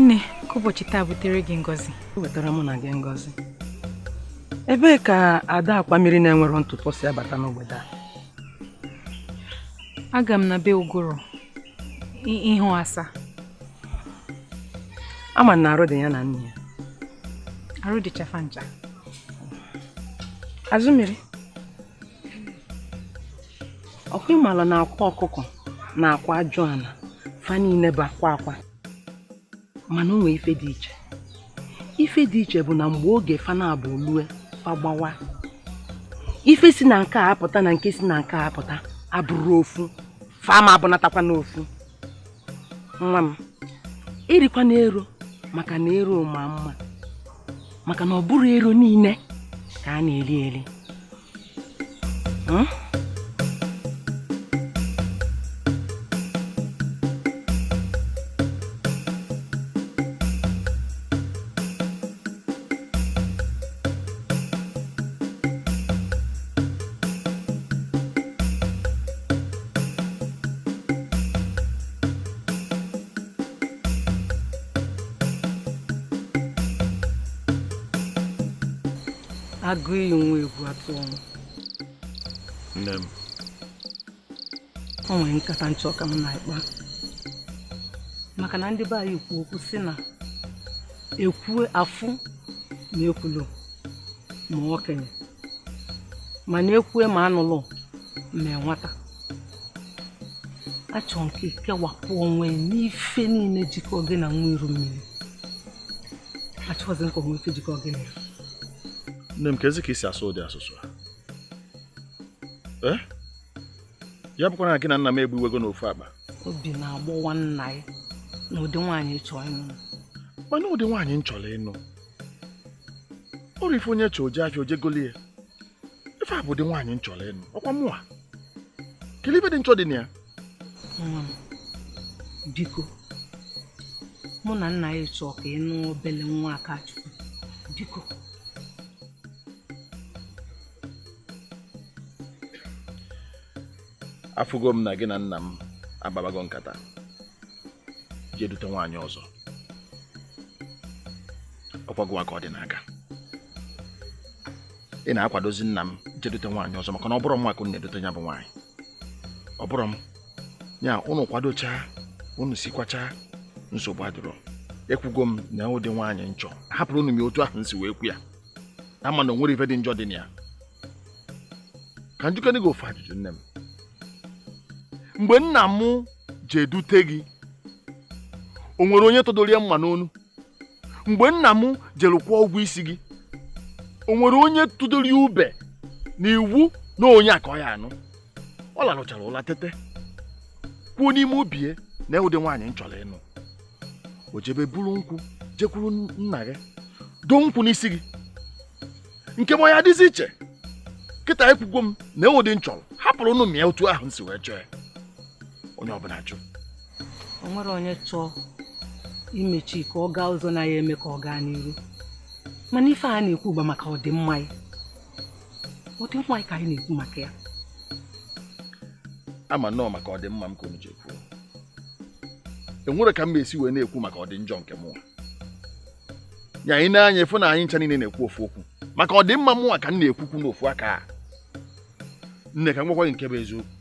nne ka ụbọchị taa butere gị ngọzi o wetara mụ na gị ngọzi ebee ka ada akwa mmiri na-enwero ntụpọ si abata n'obodo a aga m na be ụgụrụ ịhụ asa ama m na arụ dị ya na nne ya arụ dịcha fa ncha azụmiri ọkwa ị mala na akwa ọkụkọ na akwa ajụ ana fa niile bụ akwa akwa mana o nwe ife dị iche ife dị iche bụ na mgbe oge fa na-abụ olue fa gbawa ife si na nke a apụta na nke si na nke a apụta abụrọ ofu fa ama abụnatakwanụ ofu nwa m erikwana ero maka na ero ma mma maka na ọ bụrọ ero niile ka a na-eri eri hmm? agụ iyi nwa egwu atụ ọnwụ nne m o nwere nkata m chọ ka m na ị kpaa maka na ndị be anyị kwu okwu si na ekwue afụ na ekwulu ma okenye mana ekwue ma anụlụ ma nwata achọ m ka i kewapụ onwe n'ife niile jikọ gị na nwa iru mmiri achọghịzi m ka o nwee ife jikọ gị na ya nne m kezi ka i si asụ ụdị asụsụ a eh? ya bụkwa na gị na nna m egbuwego n'ofu akpa obi na-agbawa nna ị na ụdị nwaanyị ị chọ ịnụ mana ụdị nwaanyị m chọrọ ịnụ ọ bụ ife onye chọ o jee afịa o jee golie ife a bụ ụdị nwaanyị m chọrọ ịnụ ọkwa mụa ga-eli ife dị njọ dị na ya nwa m biko mụ na nna ị chọ ka ị nụ obele nwa akachukwu biko afụgo m na gị na nna m akpabago nkata jee dute nwaanyị ọzọ ọkwa gịnwa ka ọ dị n'aka ị na-akwadozi nna m jee dute nwaanyị ọzọ maka na ọ bụrọ mụnwa ka unu na-edute ya bụ nwaanyị ọ bụrọ m ya unu kwadochaa unu sikwachaa nsogbu adịrọ ekwugo m na ụdị nwaanyị m chọ hapụrụ unu ya otu ahụ m si wee kwu ya ama na o nwere ife dị njọ dị na ya ka m jụkene gị ofu ajụjụ nne m mgbe nna m ji edute gị o nwere onye tụdoro ya mma n'onu mgbe nna m jere kwụọ ụgwọ isi gị o nwere onye tụdoro ya ube na iwu na onye a ka ọ ya anụ ọ larụchara ụla tete kwuo n'ime obi ya nee ụdị nwaanyị m chọrọ ịnụ o jebe buru nkwụ jekwuru nna gị doo nkwụ n'isi gị nke m ya adịzi iche kịta ekwugwo m nee ụdị m chọrọ hapụrụnụ m ya otu ahụ m si wee chọọ ya onye ọbụna jụ o nwere onye chọọ imechi ka ọ gaa azụ na ya eme ka ọ gaa n'iru mana ife a na-ekwu bụ maka ọdịmma gị ọdịmma gị ka anyị na-ekwu maka ya ama m na ọ maka ọdịmma m ka unu ji ekwu enwerọ ka m esi wee na-ekwu maka ọdị njọ nke mụnwa nye anyị na-anya efu na anyị ncha niine na-ekwu ofu okwu maka ọdịmma mụnwa ka m na-ekwukwu n'ofu aka a nne ka m gwakwa gị nke bụ eziokwu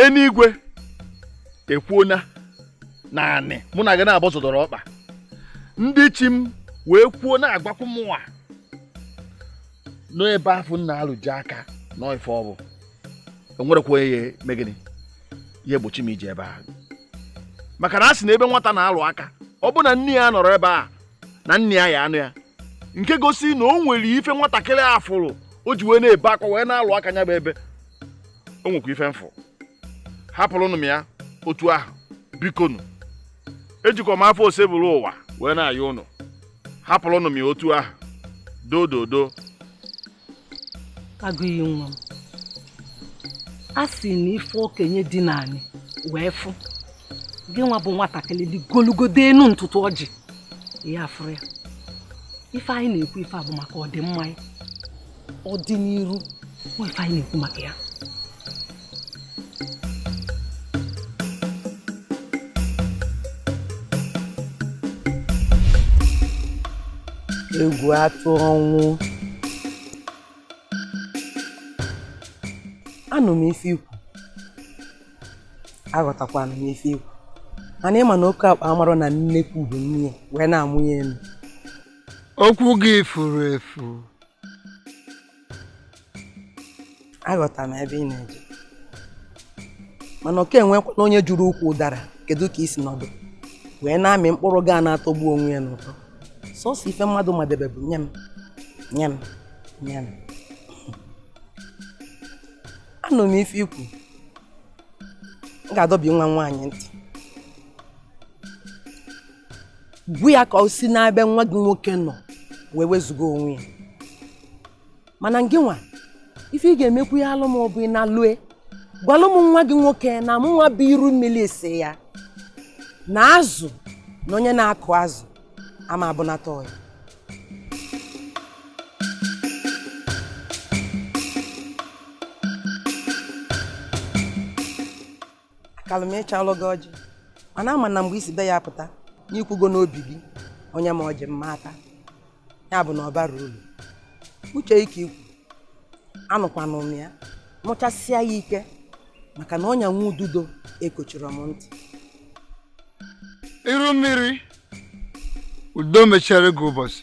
enuigwe ekwuona naanị mụ na gị naabọ zọdoro ọkpa ndị chi m wee kwuo na-agwakwu mụnwa n'ebe afụ m na-alụ gị aka n'ife ọ bụ enwerọkwa onye ya eme gịnị ya egbochi m ije ebe a maka na a sị na ebe nwata na-alụ aka ọ bụ na nne ya anọrọ ebe a na nna ya ya anọ ya nke gosi na o nwere ife nwatakịrị a fụrụ o ji wee na-ebe akwa wee na-alụ aka nya bụ ebe o nwekwa ife m fụ hapụrụnụ m ya otu ahụ bikonu ejikwa m afa osebụlụwa wee na-ayọ ụnụ hapụrụnụ m ya otu ahụ doo doo doo agụiyi nwa m a sị na ife okenye dina ani wee fụ gị nwa bụ nwatakịrị ligolugodo enu ntụtụ ọjị ị ya afụrọ ya ife anyị na-ekwu ife a bụ maka ọdịmma gị ọdịniru ife anyị na-ekwu maka ya egwu atụ ọnwụ anụ m ife i kwu aghọtakwanụ m ife i kwu mana ị ma na oke ọkpa amarọ na nnekwu bụ nne ya wee na-amụ ya elu okwu gị furu efu aghọta m ebe ị na-eje mana ọkwa enwekwanụ onye jụrụ ukwu ụdara kedu ka i si nọdụ wee na-amị mkpụrụ ga na-atọgbu onwe ya n'ụtọ sọsọ ife mmadụ madebe bụ nye m nye m nye m anụ m ife i kwu m ga-adọbi nwa m nwaanyị ntị gwa ya ka o si n'ebe nwa gị nwoke nọ wee wezụga onwe ya mana ngị nwa ife ị ga-emekwu ya alụ m bụ ị nalue gwalụ m nwa gị nwoke na mụ nwa bụ iru mmiri sị ya na azụ na onye na-akụ azụ ama abụnata ọyị akalụ m echelụ gị ọjị mana ama m na mgbe i si be ya pụta n'ikwugo n'obi gị o nye m ọjị m ma ata ya bụ na ọ barọ uru uche ike ikwu anụkwanụ m ya mụchasịa ya ike maka na ọnya nwa ududo ekochirọ m ntị iru mmiri udo mechere gị ụbọchị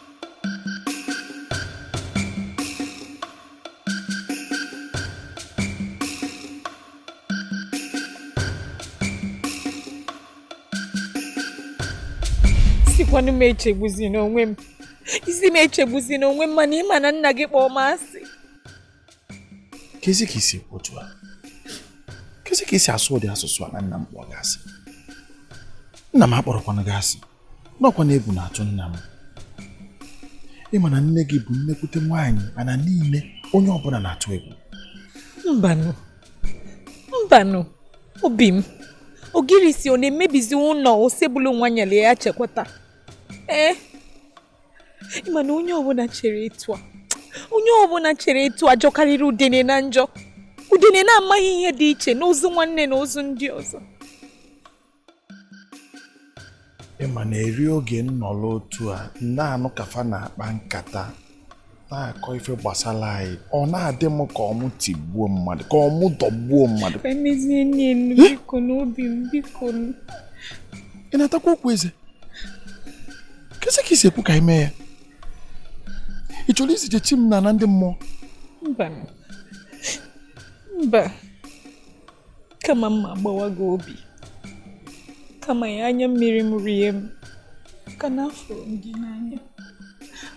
sịkwanụ m echegbuzina onwe m ị sị m echegbuzina onwe m mana ị ma na nna gị kpọọ m asị kezi ka i si otu a kezi ka i si asụ ụdị asụsụ a na nna m kpọọ gị asị nna m akpọrọkwanụ gị asị n'ọkwa na egwu na-atụ nna m ị ma na nne gị bụ nnekwute nwaanyị ana niile onye ọbụla na-atụ egwu mbanụ mbanụ obi m ogirisi ọ na-emebizi ụnọ osebuluwa nyere ya chekwata ee eh? ị ma na onye ọbụla chere etu a onye ọbụla chere etu a jọkarịrị udene na njọ udene na-amaghị ihe dị iche n'ozu nwanne na ozu ndị ọzọ ị ma na eri oge m nọrọ otu a na-anụ ka fa na-akpa nkata na-akọ ife gbasara anyị ọ na-adị m ka ọ mụ tigbuo mmadụ ka ọ mụ dọgbuo mmadụ emezie nne m biko n'obi m biko ị na-atakwa okwu eze kezi ka i si ekwu ka anyị mee ya ị chọrọ izije chi m n'ana ndị mmụọ mba mba kama m ma-agbawa gị obi kama ya anya mmiri m rie m maka na afụrụ m gị n'anya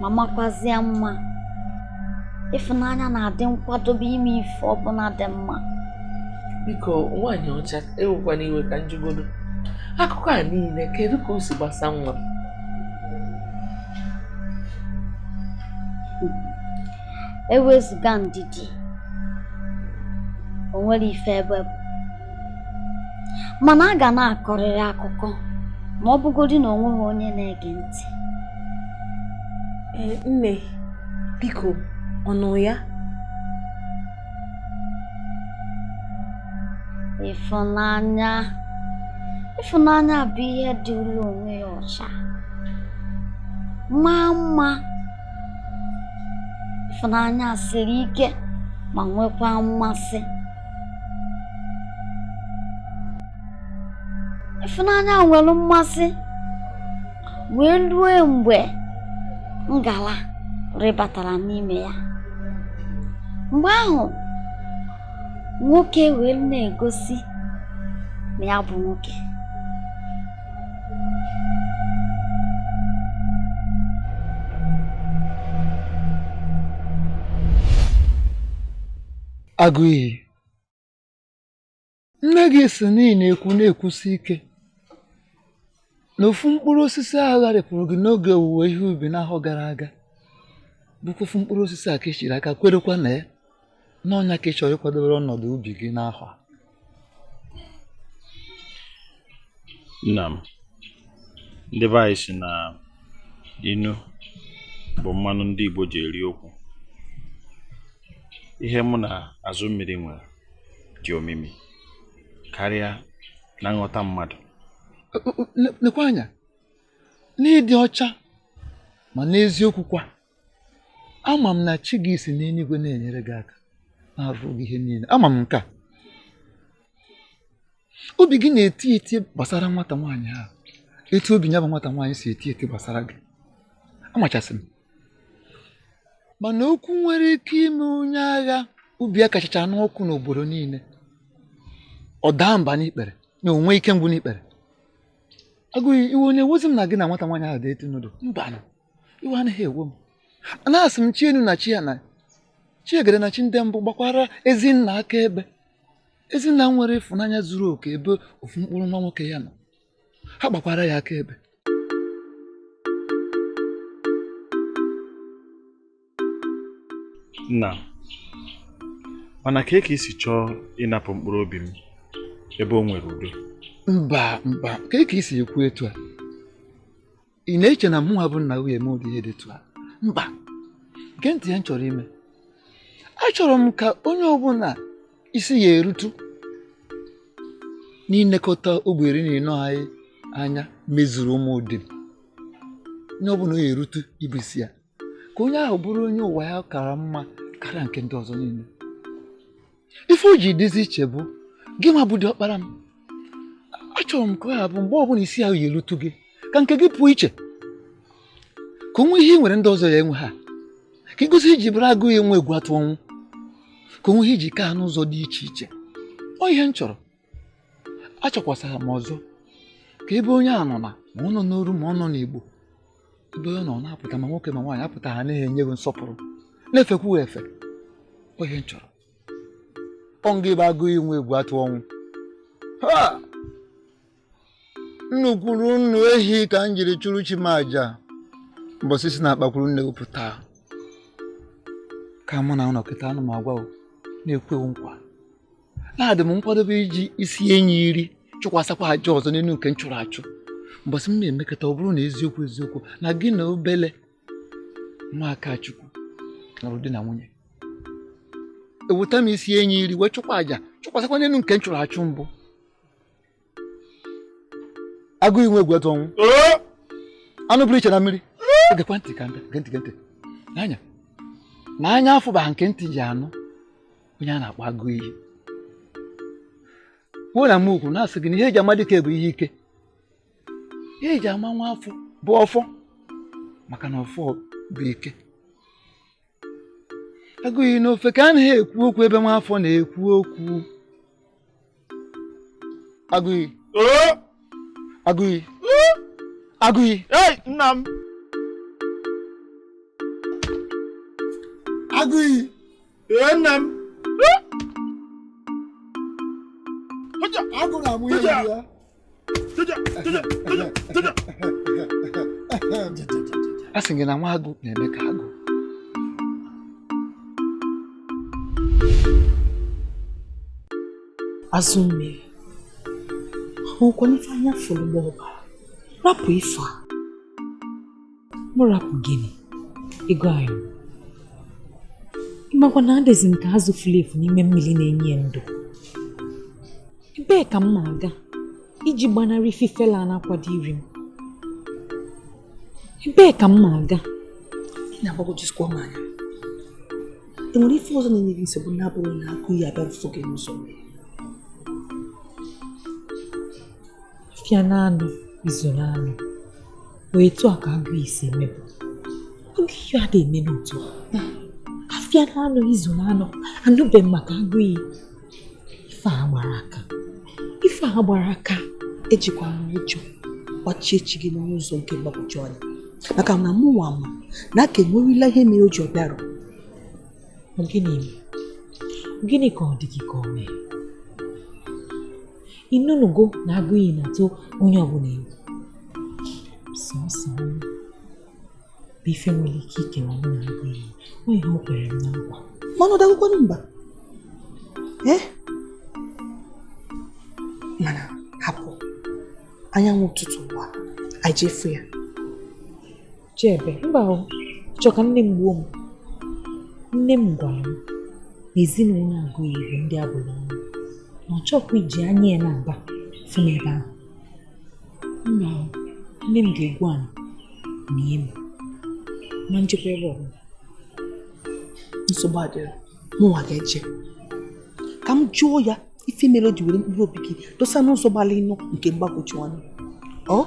ma makwazịa mma ịfụnanya na-adị nkwadobe ime ife ọbụla dị mma biko nwaanyị ọcha ewekwana iwe ka m jụgodu akụkọ a niile kedu ka o si gbasa nwa ewezụga ndidi o nwere ife ebe bụ mana a ga na-akọrịrị akụkọ ma ọ bụgodị na o nweghị onye na-ege ntị eh, nne biko ọnụ ya ịfụnanya ịfụnanya bụ ihe dịịrị onwe ya ọcha maa mma ịfụnanya siri ike ma nwekwa mmasị ịfụnanya ahụ nwere mmasị wee rue mgbe ngala rịbatara n'ime ya mgbe ahụ nwoke wee na-egosi na ya bụ nwoke Aguiyi nne gị si n'ihi na-ekwu na-ekwusi ike na ofu mkpụrụ osisi ahụ gharịpụrụ gị n'oge owuwe ihe ubi n'ahọ gara aga bụkwa ofu mkpụrụ osisi a ka echiri aka kwerekwa na ya n'ọnya ka ị chọrọ ịkwadobere ọnọdụ ubi gị n'ahọ a nna m ndị be anyị sị na inu bụ mmanụ ndị Igbo ji eri okwu ihe mụ na Azụmmiri nwere dị omimi karịa na nghọta mmadụ lekwa anya n'ịdị ọcha ma n'eziokwu kwa ama m na chi gị si n'eluigwe na-enyere gị aka na-arụ gị ihe niile ama m nke a obi gị na-eti eti gbasara nwata nwaanyị ahụ etu obi ya bụ nwata nwaanyị si eti eti gbasara gị amachasị m mana okwu nwere ike ime onye agha obi ya kachacha n'ọkụ n'obodo niile ọ daa mba n'ikpere na o nwee ike ngwụ n'ikpere Aguiyi iwe anaghị ewezi m na gị na nwata nwaanyị ahụ dị eti n'udo mba iwe anaghị ewe m na-asị m chi enu na chi ana chi egede na chi ndị mbụ gbakwara ezi nna akaebe ezi nna nwere ịfụnanya zuru oke ebe ofu mkpụrụ nwa nwoke ya nọ ha gbakwara ya akaebe nna mana kee ka i si chọọ ịnapụ mkpụrụ obi m ebe o nwere udo mba mba kee ka i si ekwu etu a ị na-eche na mụnwa bụ nna gị eme ụdị ihe dị etu a mba gee ntị ihe m chọrọ ime achọrọ m ka onye ọbụla isi ya erutu n'ilekọta ogbe iri na ịnọ anyị anya mezuru Ụmụdim onye ọbụla ya erutu ịbụ isi ya ka onye ahụ bụrụ onye ụwa ya kara mma karịa nke ndị ọzọ niile ife o ji dịzi iche bụ gị nwa bụ ọkpara m achọrọ m ka ọ ya bụ mgbe ọbụla isi ahụ ya erutu gị ka nke gị pụọ iche ka o nwee ihe ị nwere ndị ọzọ ya enwe ha ka ịgosi i ji bụrụ agụiyi enwe egwu atụ ọnwụ ka o nwee ihe i ji ka ha n'ụzọ dị iche iche ọ ihe m chọrọ achọkwasara m ọzọ ka ebe onye a nọ na ma ọ nọ n'oru ma ọ nọ n'igbo ebe ọ nọ na-apụta ma nwoke ma nwaanyị apụta ha naghị enye gị nsọpụrụ na-efekwu efe ọ ihe m chọrọ ọ nga ebe agụiyi enwe egwu atụ ọnwụ nnu kwuru nnu ehi ka m jiri chụrụ chi m aja mbọsị i si n'akpakwuru nne pụta ka mụ na ụlọ kịta anụ m agwa na-ekwe nkwa na adị m nkwadobe iji isi enyi iri chụkwasakwa aja ọzọ n'elu nke m chụrụ achụ mbọsị m na-emekata ọ bụrụ na eziokwu eziokwu na gị na obele nwa Akachukwu nụrụ di na nwunye eweta m isi enyi iri wee chụkwa aja chụkwasakwa n'elu nke m chụrụ achụ mbụ agụiyi enwe egwu atụ ọnwụ anụ pụrụ iche na mmiri egekwa ntị n'anya na anya afụba nke ntị ji anụ onye a na-akpọ agụiyi kwuo na mokwu na-asị gị na ihe e ji ama dike bụ ihe ike ihe e ji ama nwa afọ bụ ọfọ maka na ọfọ bụ ike agụiyi na ofeke anaghị ekwu okwu ebe nwa afọ na-ekwu okwu agụiyi agụiyi agụiyi nna m agụiyi ee nna m agụ na-amụ ihe ya a sị gị na nwa agụ na-eme ka agụ azụ mmiri ahụkwa ife anya fụrụ gbaa ọbara rapụ ife a mụ rapụ gịnị ego anyị ị makwa na adịzi m ka azụ furu efu n'ime mmiri na-enye ya ndụ ebee ka m na-aga iji gbanarị ifele a na-akwado iri m ebee ka m na-aga ị na-agbagwojuzikwa m anya e nwere ife ọzọ na-enye gị nsogbu na-abụghị na agụiyi abịa mfụ gị n'ụzọ fịa n'anọ izu n'anọ ee otu a ka agụ iyi si emebu oge ihe a na-eme n'otu afịa n'anọ izu n'anọ anụbe m maka agụ iyi ife a gbara aka ife a gbara aka ejikwana ụjọ gbachie chi gị n'ụzọ nke mgbagwoju anya maka na mụ nwa ma na a ga-enwerịrị ihe mere o ji ọ bịarọ gịnị gịnị ka ọ dị gị ka o mee ịnụnugo na agụ iyi na-atụ onye ọbụla egwu sọsọ bụ ife nwere ike ikewa mụ na agụ iyi ọ ihe o kwere m na nkwa mana ọ dagokwanụ mba ee mana hapụ anyanwụ ụtụtụ waa anyị je fụ ya je ebe mba o ị chọ ka nne m gbuo m nne m gwara m na ezinụlọ agụ iyi bụ ndị a bụrụ ọnụ na ọ chọkwa iji anya ya naabọ fụ m ebe ahụ mba o nne m ga-egbu anyị na ihe m ma ejekwa ebe ọbụla nsogbu adịrọ mụnwa ga-eje ka m jụọ ya ife mere o ji were mkpụrụ obi gị dosa n'ụzọ gbalị ịnụ nke mgbagwoju anya ọ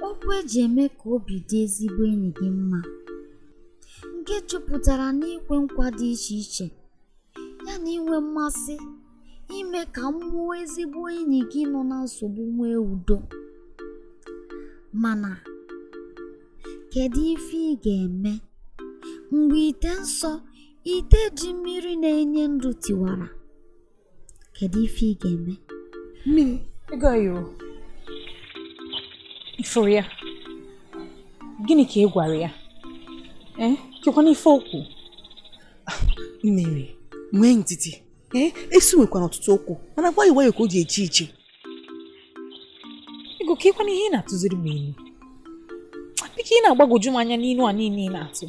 okwu eji eme ka obi dị ezigbo enyi gị mma nke jupụtara n'ikwe nkwa dị iche iche ya na inwe mmasị ime ka mmụọ ezigbo enyi gị nọ na nsogbu nwee udo mana kedu ife ị ga-eme mgbe ite nsọ ite ji mmiri na-enye ndụ tiwara kedu ife ị ga-eme mmiri ego ayoro ịfụrụ ya gịnị ka ị gwara ya ee eh, kekwanụ ife o kwu mmiri nwee ndidi ee esu nwekwara ọtụtụ ụkwụ mana nwayọ nwayọ ka o ji eje ije ego kekwanụ ihe ị na-atụziri m ilu biko ị na-agbagwoju m anya n'ilu a niile ị na-atụ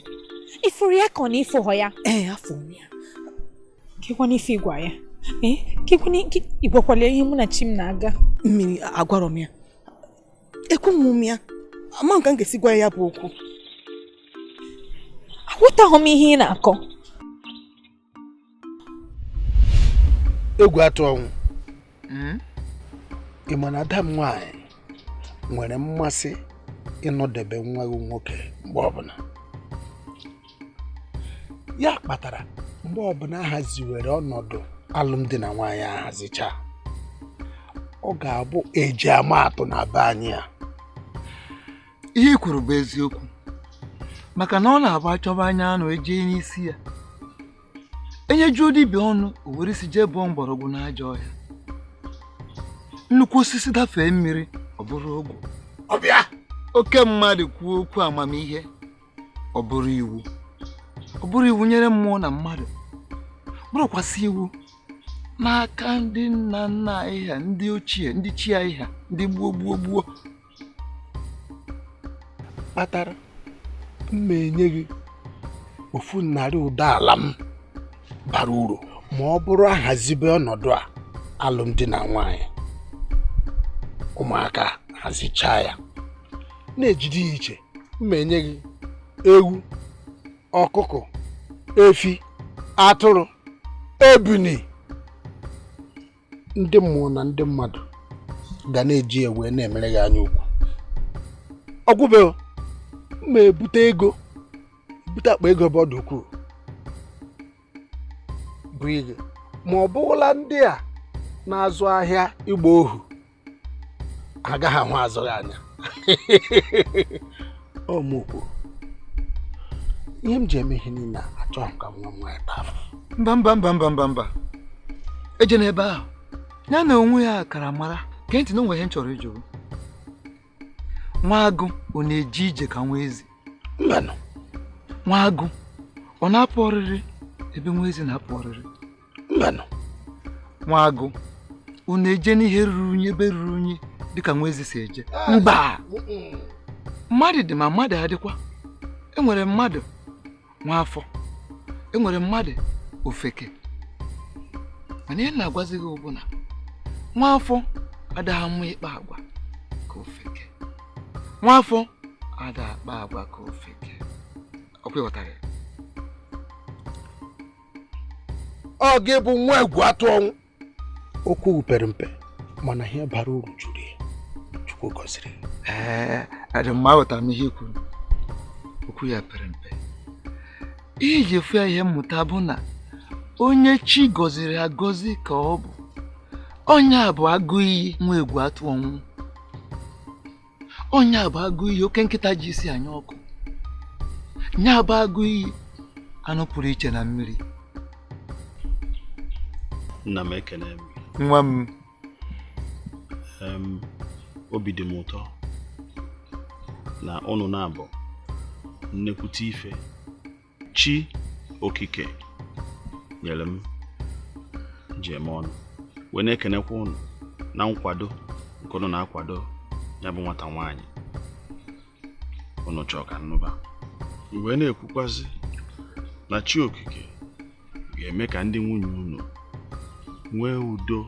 ịfụrụ ya ka ọ na ịfụghọ ya ee afụ m ya kekwanụ ife ịgwa ya ee ka ịgwakwara ya ihe mụ na chi m na-aga mmiri agwarọ m ya ekwunwu m ya ama m ka m ga-esi gwa ya bụ okwu aghọtaghọ m ihe ị na-akọ egwu atụ ọnwụ hmm? ị ma na ada m nwaanyị nwere mmasị ịnọdebe nwa gị nwoke mgbe ọbụla ya kpatara mgbe ọbụla ahaziwere ọnọdụ alụmdi na nwaanyị ahazicha ọ ga-abụ eji ama atụ na be anyị a ihe i kwuru bụ eziokwu maka na ọ na-abụ achọba anya anụ eje n'isi ya enyejuo dibịa ọnụ o were isi jee bụọ mgbọrọgwụ n'ajọ ọhịa nnukwu osisi dafee mmiri ọ bụrụ ogwe ọbịa oke mmadụ kwuo okwu amamihe ọ bụrụ iwu ọ bụrụ iwu nyere mmụọ na mmadụ bụrụkwasị iwu n'aka ndị nna nna anyị ha ndị ochie ndị chi anyị ha ndị gboo gboo gboo kpatara m ma-enye gị ofu narị ụdọ ala m bara uru ma ọ bụrụ ahazibe ọnọdụ a alụmdi na nwanyị ụmụaka hazicha ya na-ejide ya iche m ma-enye gị ewu ọkụkọ efi atụrụ ebini ndị mmụọ na ndị mmadụ ga na-eji ewe na-emere gị anya ukwu ọ gwụbe m ma-ebute ego ebute akpa ego ebe ọ dị ukwuu bụ ego ma ọ bụrụla ndị a na-azụ ahịa ịgba ohu agaghị ahụ azụghị anya ọ mụ kwuru ihe m ji eme ihe niile achọghị ka nwa nwa ebe ahụ mba mba mba mba mba mba eje n'ebe ahụ ya na onwe ya kara mara gee ntị na o nwe ihe m chọrọ ịjụ nwa agụ ọ na-eji ije ka nwa ezi mbanụ nwa agụ ọ na-apụ ọrịrị ebe nwa ezi na-apụ ọrịrị mbanụ nwa agụ ọ na-eje n'ihe ruru unyi ebe ruru unyi dịka nwa ezi si eje mba mmadụ dị ma mmadụ adịkwa enwere mmadụ nwa afọ enwere mmadụ ofeke mana ihe m na-agwazi gị bụ na nwa afọ adịghị mma ịkpa agwa ka ofeke nwa afọ ada akpa agwa ka ofeke ọ kwa ị ghọtara ya ọ gị bụ nwa egwu atụ ọnwụ okwu pere mpe mana ihe bara uru juru ya chukwu gọziri ee adị mma aghọtara m ihe i kwuru okwu ya pere mpe ihe ji efu ya ihe mmụta bụ na onye chi gọziri agọzi ka ọ bụ onye a bụ agụ iyi nwa egwu atụ ọnwụ onye a bụ agụ iyi oke nkịta ji isi anya ọkụ nya bụ agụ iyi anụ pụrụ iche na mmiri nna m ekene m nwa m obi dị m ụtọ na ụnụ na-abụ nnekwute ife chi okike nyere m ji eme ọnụ wee na-ekenekwa ụnụ na nkwado nke ụnụ na-akwado ya bụ nwata nwaanyị ụnụ chọọ ka m nụba m wee na-ekwukwazi na chi okike ga-eme ka ndị nwunye ụnụ nwee udo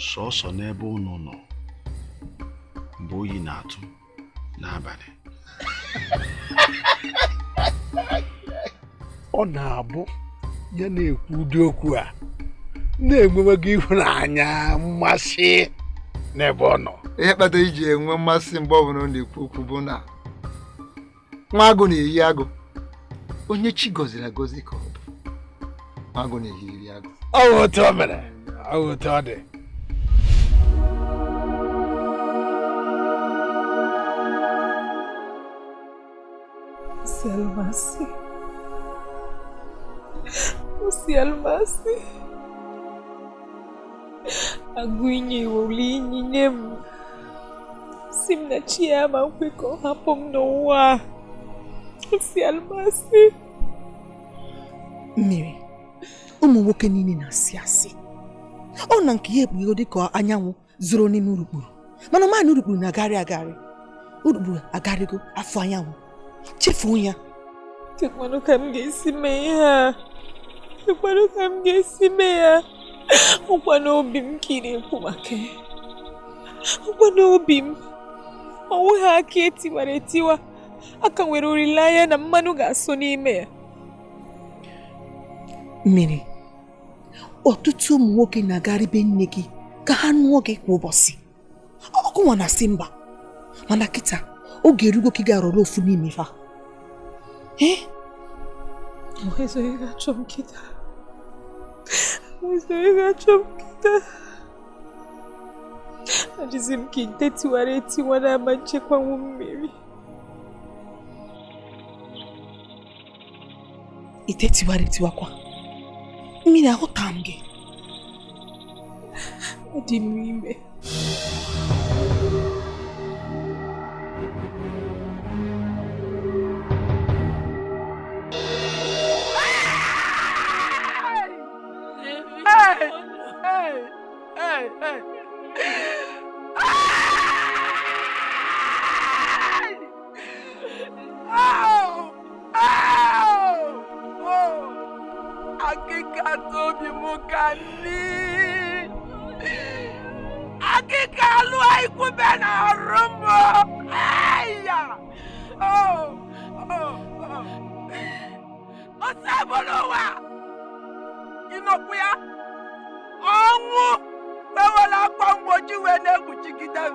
sọsọ n'ebe ụnụ nọ mgbe oyi na-atụ n'abalị ọ na-abụ ya na-ekwu ụdị okwu a na-enwewago ịhụnanya mmasị n'ebe ọ nọ ihe kpata e ji enwe mmasị mgbe ọ bụla ọ na-ekwu okwu bụ na nwa agụ na-eyi agụ onye chi gọziri agọzi ka ọ bụ nwa agụ na-eyiri agụ ọ bụ otu o mere ọ bụ otu ọ dị Selvasi. Selvasi. agụ inye iwolu inyi nye m sị m na chi ya ma nkwe ka ọ hapụ m n'ụwa a si alụmasị mmiri ụmụ nwoke niile na-asị asị ọ na nke ya ekpughe dị ka anyanwụ zoro n'ime urukpuru mana ọ naanị urukpuru na-agarị agarị urukpuru agarịgo a fụ anyanwụ chefuo ya kekwanụ ka m ga-esi mee ihe a kekwanụ ka m ga-esi mee ya ọ kwanụ obi m ka ị na-ekwu maka ya ọ kwanụ obi m o nwe ha aka etiwara etiwa a ka nwere olileanya na mmanụ ga-asọ n'ime ya mmiri ọtụtụ ụmụ nwoke na-agarị be nne gị ka ha nụọ gị kwa ụbọchị ọ gị nwa na-asị mba mana kịta oge erugo ka ị ga-arọrọ ofu n'ime ha ee onye ọzọ ga-achọ m kịta onye ọzọ ga-achọ m kịta adịzi m ka ite tiwara etiwa na-ama nchekwanwu mmiri ite tiwara etiwakwa mmiri ahụta m gị dị m ime akịka tobi m ka nne akịka alụ ikwube na arụ m ya ọsọ ebolo ụwa ịnọkwu ya ọnwụ ewela akwa mgbochi wee na-ekpuchigide m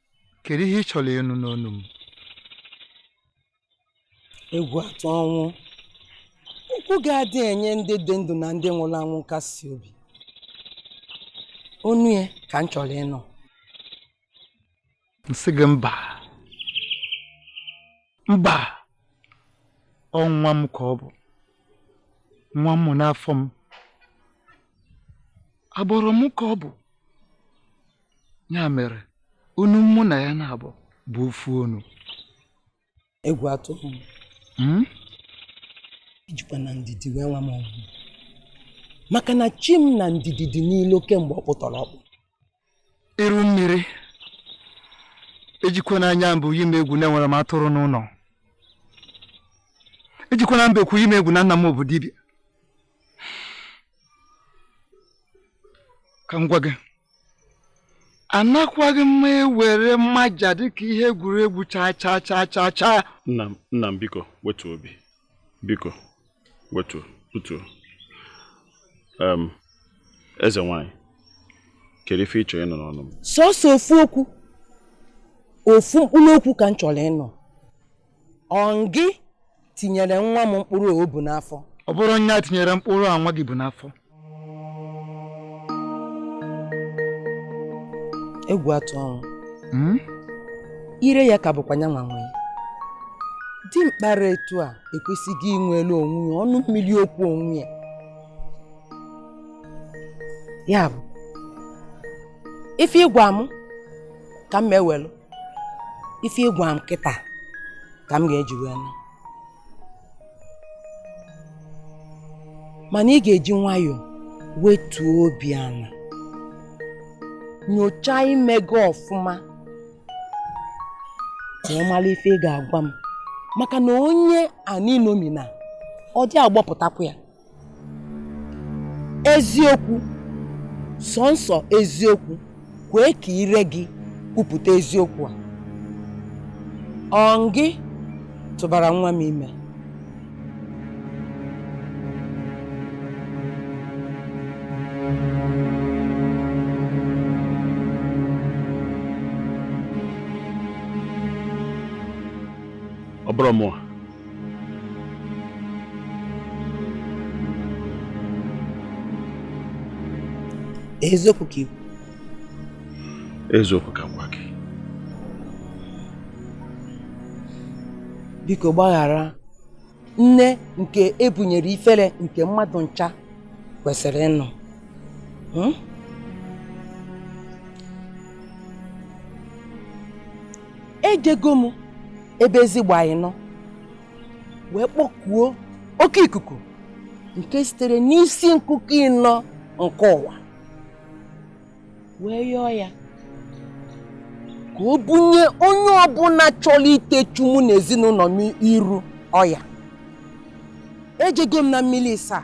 kedu ihe ị chọrọ ịnụ n'ọnụ m egwu atụ ọnwụ okwu ga-adị enye ndị dị ndụ na ndị nwụrụ anwụ nkasi obi ọ nya ka m chọrọ ịnụ m sị gị mba mba ọ nwa m ka ọ bụ nwa m n'afọ m agbụrụ m ka ọ bụ ya mere ọnụ mụ na ya na-abụ bụ ofu ọnụ egwu atụ hmm? ejikwana ndidi wee nwa m ọgwụ maka na chi m na ndidi dị n'ilo kemgbe ọkpụtọrọ ọkpụ iru mmiri ejikwana anya mbụ yi m egwu na enwere m atụrụ n'ụnọ ejikwana mbekwu yi m egwu na nna m bụ dibịa ka m gwa gị anakwaghị m ewere mmaja dịka ihe egwuregwu chaa chaa chaa chaa chaa nna m biko wetu obi biko wetuo tutuo eze nwanyị kedu ife ị chọrọ ịnụ n'ọnụ m sọsọ ofu okwu ofu mkpụrụ okwu ka m chọrọ ịnụ ọ ngị tinyere nwa m mkpụrụ o bu n'afọ ọ bụrụ nya tinyere mkpụrụ a nwa gị bu n'afọ egwu atụ ọnwụ hmm? ire ya ka bụkwa nya nwa nwe ya dimkpa ra etu a ekwesịghị inwelu onwe ya ọnụ mmiri okwu onwe ya ya bụ ife ị gwa m ka m ewelu ife ị gwa m kịta ka m ga-eji wee nụ mana ị ga-eji nwayọọ wetuo obi ana nyochaa ime gị ọfụma ka ị mara ife ị ga-agwa m maka na onye anị nomina ọ dị agbọpụtakwa ya eziokwu sọnsọ eziokwu kwee ka ire gị kwupụta eziokwu a ọ gị tụbara nwa m ime ọ bụrụ mụwa eziokwu ka ikwu eziokwu ka gwa gị biko gbaghara nne nke e bunyere ifere nke mmadụ ncha kwesịrị ịnụ hmm? ejego m ebe ezi gba ịnọ wee kpọkuo oke ikuku nke sitere n'isi nkuku ịnọ nke ụwa wee yọọ ya ka o bunye onye ọbụla chọrọ itechu mụ na ezinụlọ m iru ọya ejego m na mmiri ịsaa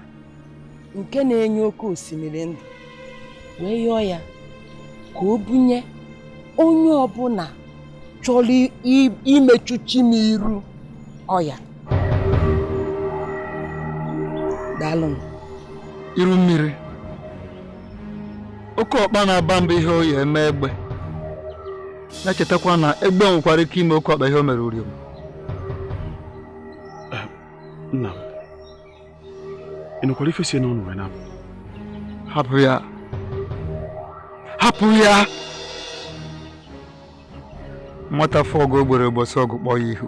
nke na-enye oke osimiri ndụ wee yọọ ya ka o bunye onye ọbụla chọrọ imechu chi m iru ọya daalụ m iru mmiri oke ọkpa na-aba mba ihe ọ ya-eme egbe na-echetakwa na egbe nwekwara ike ime oke ọkpa ihe o mere uriom ị nụkwara ife si ya n'ọnụ wee na-apụ hapụ ya hapụ ya nwata fụ ọgụ ogbere ụbọchị ọgụ kpọọ ya ihu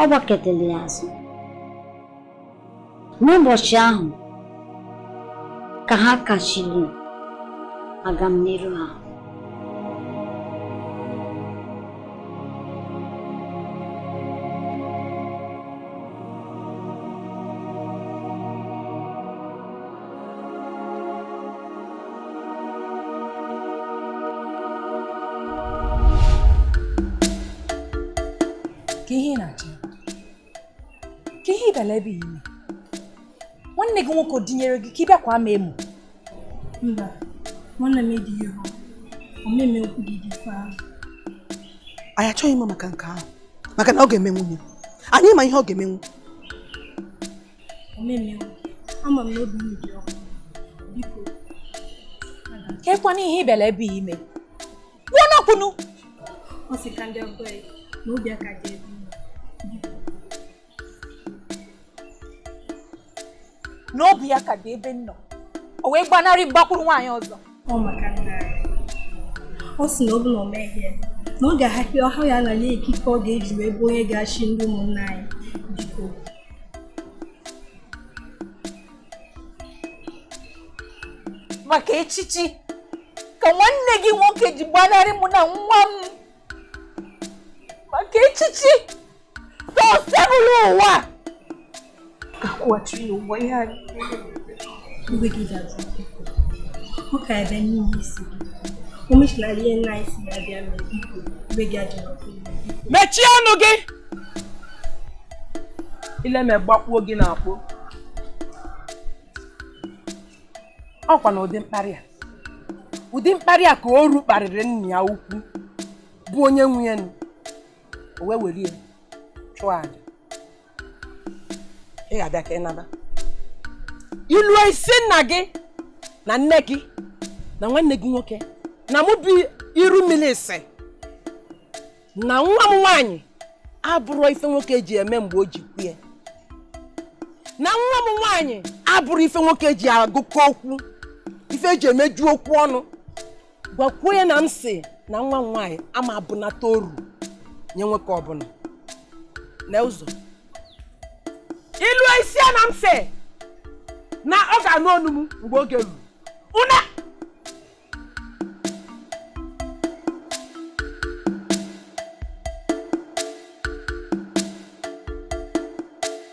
ọ gbakụtara ya azụ n'ụbọchị ahụ ka ha kachiri agamniru ha kee ihe ị na-achọ kee ihe ị bịara ebe a ime nwanne gị nwoke dinyere gị ka ị bịakwa ama emu mba nwanne m edighị ha omeme okwu gị dị fa anyị achọghị ịma maka nke ahụ maka na ọ ga-emenwu anyị ma ihe ọ ga-emenwu ama m na obi m dị ọkụ biko kekwana ihe ibele ebe ime kwuo n'ọkwụnụ ọ sị ka ndị ọgọ ya na obi aka dị ebe n'obi ya ka dị ebe nnọ o wee gbanarị m gbakwuru nwaanyị ọzọ ọ maka nna anyị ọ sị na ọ bụ na o mehie na ọ ga-ahapụ ọha ya anala ya ikike ọ ga-eji wee bụ onye ga-achị ndị ụmụnna anyị biko maka echichi ka nwanne gị nwoke ji gbanarị mụ na nwa m maka echichi osebụlụwa akwụghachiri ụgwọ ihe anyị mgbe gị ga-azụ ọ ka ebe n'ihe isi o mechila ihe nna anyị si ya bịa mere biko mgbe gị ajọrọ mechie ọnụ gị ile me gbakpuo gị n'akpo ọkwa na ụdị mkparị a ụdị mkparị a ka oru kparịrị nna ya ukwu bụ onye nwe ya nụ o wee were ya chụọ aja ị ga-abịa ka ị naba i luo ị si nna gị na nne gị na nwanne gị nwoke na mụ bụ iru mmiri si na nwa m nwaanyị abụrọ ife nwoke ji eme mgbe o ji kwue na nwa m nwaanyị abụrọ ife nwoke ji agụkọ okwu ife e ji emeju okwu ọnụ gwakwuo ya na m si na nwa m nwaanyị ama abụnata oru nye nwoke ọbụla na ụzọ i luo ị si ya na m si na ọ ga-anụ onu m mgbe oge ruru una